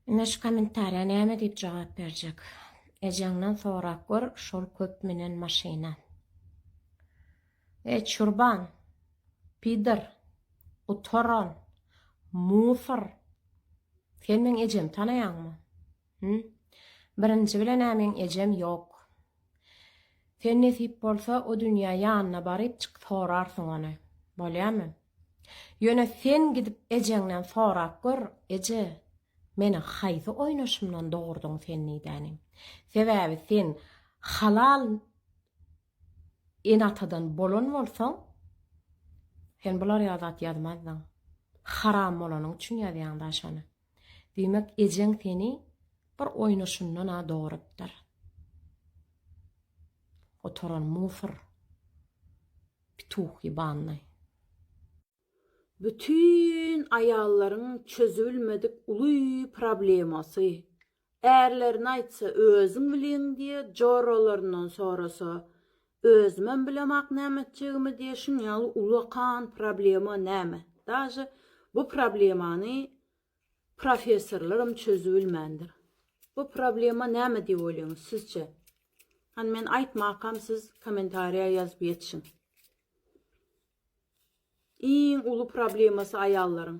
Ine şu komentariýa näme diýip jogap berjek. Ejeňden sorap gör şol köp münen maşyna. Eý çurban. Pidyr. Gutaran. Musor. Sen meň ejemi tanaýaňmy? Hümm. Birinji bilen-ä meň ejem ýok. Sen nesip bolsa o dünýä ýanyna baryp çyk sorarsyň ony. Bolýamy? Ýöne sen gidip ejeňden sorap gör, Eje, meni haýsy oýnaşymdan dogurdyň sen nidäni? Sebäbi sen halal ene-atadan bolan bolsaň, sen bular ýaly zat ýazmazdyň. Haram bolanyň üçin ýazýaň-da şony. Diýmek, ejeň seni bir oýnaşyndan-a dogrupdyr. Oturan musor. Pituh ýebannyý. Bütin aýallaryň çözübilmedik uly problemasy, Ärlerine aýtsa, özüň bilýäň diýe, joralaryndan sorasa, özümem bilemok näme etjegimi diýe, şuň ýaly ulakan problema näme? Daže bu problemany professorlaram çözübilmändir. Bu problema näme diýip oýlaýyňyz sizçe? Hany men aýtmakam siz kommentariýa ýazyp ýetişiň. Iň uly problemasy aýallaryň.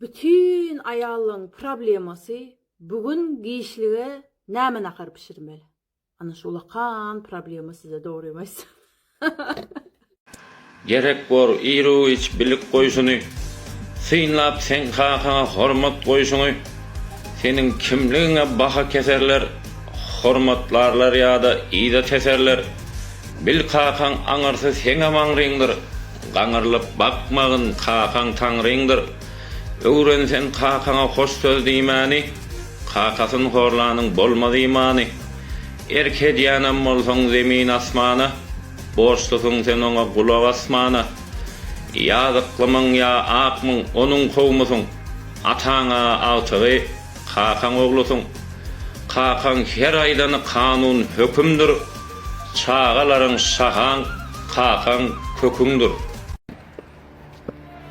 Bütin aýallaň problemasy bu gün giçlige näme nahar bişirmeli. Ana şu ulakan problema size dogrymy aýtsam. Gerek bor iruiç bilik goýşuny synlap seň kakaňa hormat goýşuňy seniň kimligiňe baha keserler hormatlarlar ýada yza teserler bil kakaň aňyrsy seňem aňryňdyr Gaňyrlyp bakmagyn, kakaň Taňryňdyr. Öwren sen kakaňa hoş söz diýmäni, Kakasyn horlanyň bolmaz imany. Erk edýänem bolsaň zemin-asmana, Borçlusyň sen oňa gulak asmana. Ýazyklymyň ýa akmyň, onuň kowumysyň, Ataň-a agtygy, kakaň oglusyň. Kakaň her aýdany kanun, hökümdir. Çagalaryň şahaň, kakaň, köküňdir.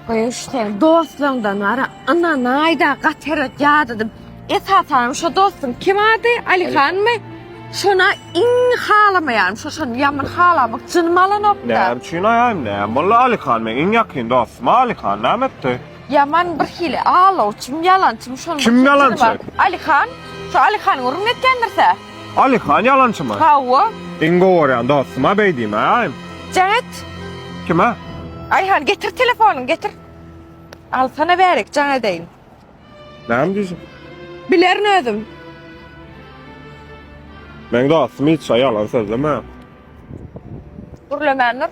Goý sen dostlaňdan wara ynanaýda gaty erbet ýadadym. Esasanam şo dostuň kim ady Alihanmy? Şona iň halamaýarym şo şony ýaman halamak jynym alanokda. Näme üçin aýaýym näme boldy Alihan meň iň ýakyn dostum Alihan näme etdi? Ýaman bir hili alawçym ýalançym şonuň Kim ýalançy? Alihan şo Alihanyň urun etýändirse. Alyhan ýalançymy? Hawa. Iň gowy görýän dostuma beý diýmäýin. Jaň et. Kime? Aýhan getir telefonyňy getir. Alsana bärik jaň edeýin. Näme diýjek? Bilerin özüm. Meň dostum hiç şa ýalan sözlemeýär. Gürlemän dur.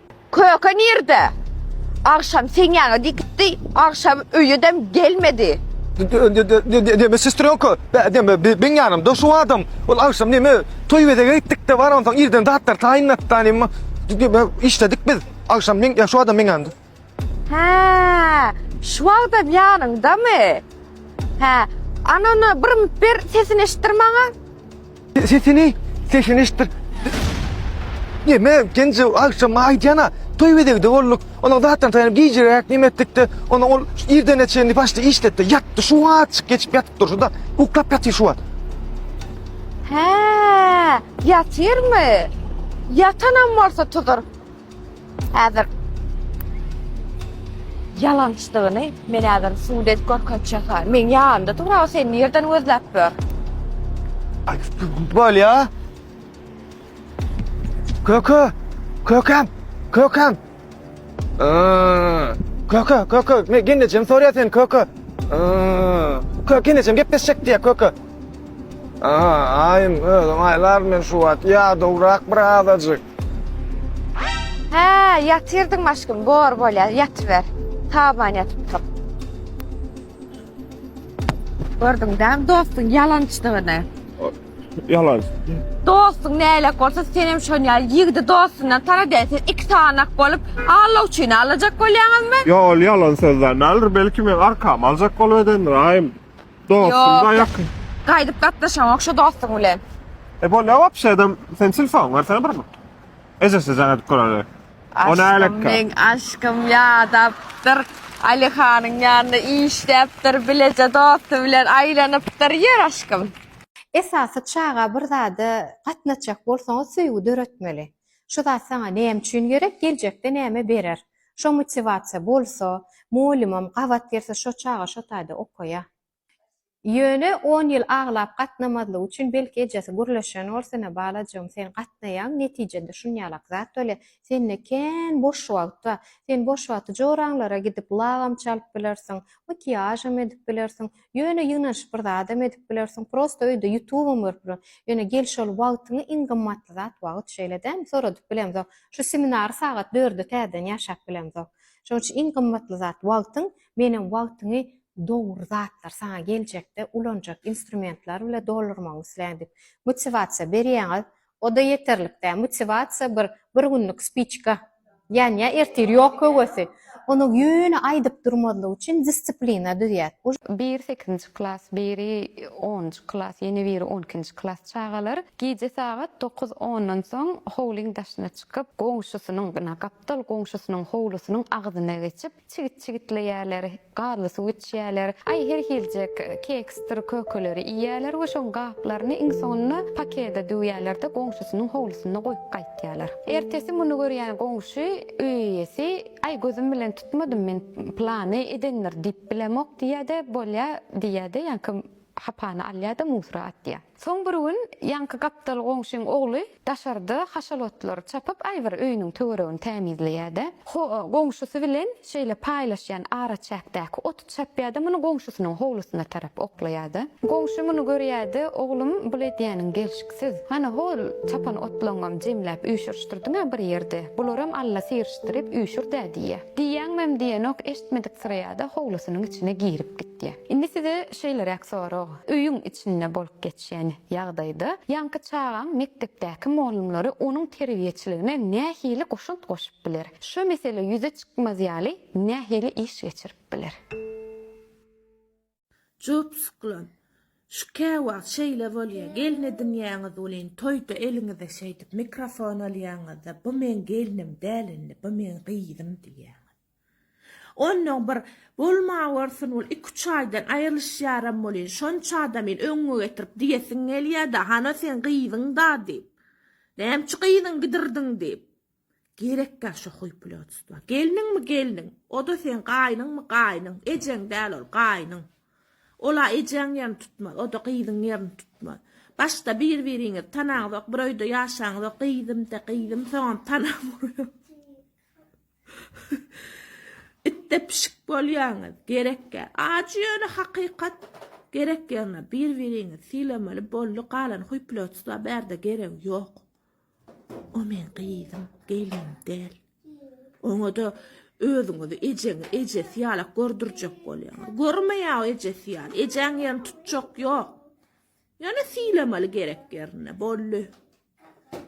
Köke nirde? Agşam seň ýaňa gitdi, agşam öýedem gelmedi. Deme sestrýonka, bä deme, beň ýanymda şu adam. Ol agşam neme, toý bezege gitdik-de, bar onsoň irden zatlar taýynlatdan emma deme işledik biz. Agşam meň ýa şu adam meň ýanymda. Hä, şu wagtam ýanyňdamy? Hä, anana bir mnt ber, sesini eşitdir maňa. Sesini, sesini eşitdik. Neme, genji agşama aýdýana, toý bezegde bolduk. Onuň zatdan taýynyp gijeräk neme etdikde, onuň ol irdene çenli başda işletdi. Ýatdy, şu wagt çyk geçip ýatyp durşuda, uklap ýatyr şu wagt. Hä, ýatyrmy? Ýatanam bolsa tudur. Häzir ýalançdygyny men häzir subut edip görkezjek. Men ýanynda dur, aga sen nirden gözläp ber. Bolýa. Köke, kökem, kökem. Köke, köke, men genejem sorýa sen köke. Köke genejem gepleşjek diýä köke. Aa, aýym özüm aýlar men şu wagt ýa dograk bir azajyk. Hä, ýatyrdyňmy aşkym? Bor, bolýar, ýatyber. Taban ýatypdyr. Gördüň däm dostuň ýalançdygyny. Ýalan. Dostuň näle bolsa sen hem şon ýaly ýigidi dostundan tana däýsin. Iki tanak bolup Allah üçin alajak bolýaňyzmy? Ýa ol ýalan sözden näler? Belki men arkamy aljak bolup edendir, aýym. Dostum da yok. Gaýdyp gatnaşaňok şu dostuň bilen. E bol ya wapşe adam sen telefon versene bir mi? Ejesi jaň edip göreli. O ne alek Aşkym men aşkym ýadapdyr. Ali hanyň ýanynda işläpdir, bileje dosty bilen aýlanypdyr. Ýör aşkym. Esasy çaga bir zada gatnaşjak bolsaňyz söýgi döretmeli. Şu zat saňa näme üçin gerek, geljekde näme berer. Şo motiwasiýa bolsa, mugallymam gabat gelse şo çaga şo taýda okaýa. Ýöne on ýyl aglap gatnamazlygy üçin belki ejesi gürleşen bol sene balajygym sen gatnaýaň netijende şunýalak zat bolýa. Sende kän boş wagt bar. Sen boş wagty joraňlara gidip lagam çalyp bilersiň, makiýažam edip bilersiň. Ýöne ýygnanyşyp bir zadam edip bilersiň, prosta öýde ýutubam görüp bilersiň. Ýöne gel şol wagtyňy iň gymmatly zat wagt şeýle dämi soradyp bilemzok. Şu seminary sagat dörde täzeden ýaşap bilemzok. Şonuň üçin iň gymmatly zat wagtyň, menem wagtyňy dogry zatlar saňa geljekde ulanjak instrumentler bile doldurmagyňy isleýän diýip motiwasiýa berýäňiz. oda ýeterlik däl motiwasiýa bir bir günlik spiçka ýanýar ertir ýok höwesi onuň ýöne aýdyp durmazlyk üçin disciplina düzýär. Biri sekizinji klas biri onunjy klas ýene biri on ikinji klas çagalar gije sagat dokuz ondan soň howlyň daşyna çykyp goňşusynyň ýa gapdal goňşusynyň howlusynyň agzyna geçip Çigit çigitleýärler, gazly suw içýärler, aý her hiljek keksdir kökeleri iýýärler we şoň gaplaryny iň soňunda pakede düwýärler-de goňşusynyň howlusynda goýup gaýtýarlar. Ertesi muny görýän goňşy öý eýesi, aý gözüm bilen tutmadym men plany edendir diýip bilemok diýýär-de bolýa diýýär-de ýaňky hapany alýar-da musura atýar. Soň bir gün ýaňky gapdal goňşyň ogly daşarda haşal otlary çapyp aýbir öýüniň töweregini tämizleýärde, ho goňşusy bilen şeýle paýlaşýan araçäkdäki oty çapýarda muny goňşusynyň howlusyna tarap oklaýarda. Goňşy muny görýärde, Oglum, bul edýäniň gelşiksiz. Hany hol çapan otlaňňam jemläp üýşürişdirdiňä bir ýerde, bularam Alla syrişdirip üýşür-dä diýýär. Diýýäňmem diýenok, eşitmediksireýärde howlusynyň içine girip gitýär. Diýýär. Indi size şeýleräk sorag, öýüň içinde bolup geçýän ýagdaýda ýaňky çagaň mekdepdäki mugallymlary onuň terbiýeçiligine nähili goşant goşup biler? Şu mesele ýüze çykmaz ýaly nähili iş geçirip biler? Jopsuklan. Şu käwagt şeýle bolýar, gelin edinýäňiz welin, toýda eliňize şeýdip mikrofon alýaňyzda, bu meň gelnim däl indi, bu meň gyzym diýýäňiz. Onnoň bir Bolmawörsün ol, iki-üç aýdan aýrylyşýaram welin, şonça-da meni öňňe getirip diýesiň gelýä-dä, Hana seň gyzyň-da diýip. Näme üçin gyzyňy gidirdiň diýip. Gerekkä şo huýpulýotstwa. Gelniňmi gelniň. O-da seň gaýnyňmy gaýnyň. Ejeň däl ol, gaýnyň. Ol-a ejäň ýerini tutmaz, o-da gyzyň ýerini tutmaz. Başda bir-biriňizi tanaňzok, bir öýde ýaşaňzok, gyzym-de, gyzym, soňam tanap urýar. Itde pişik bolýaňyz gerekgä ajy ýöne hakykat gerek ýerine bir biriňizi sylameli boldy galan huýplotsyzlar bärde geregi ýok o meň gyzym gelnim däl oňada özüňizi ejeňi ejesi ýalak gördürjek bolýaňyz görmeýä o ejesi ýaly ejäň ýerini tutjak ýok ýöne sylameli gerek ýerine boldy.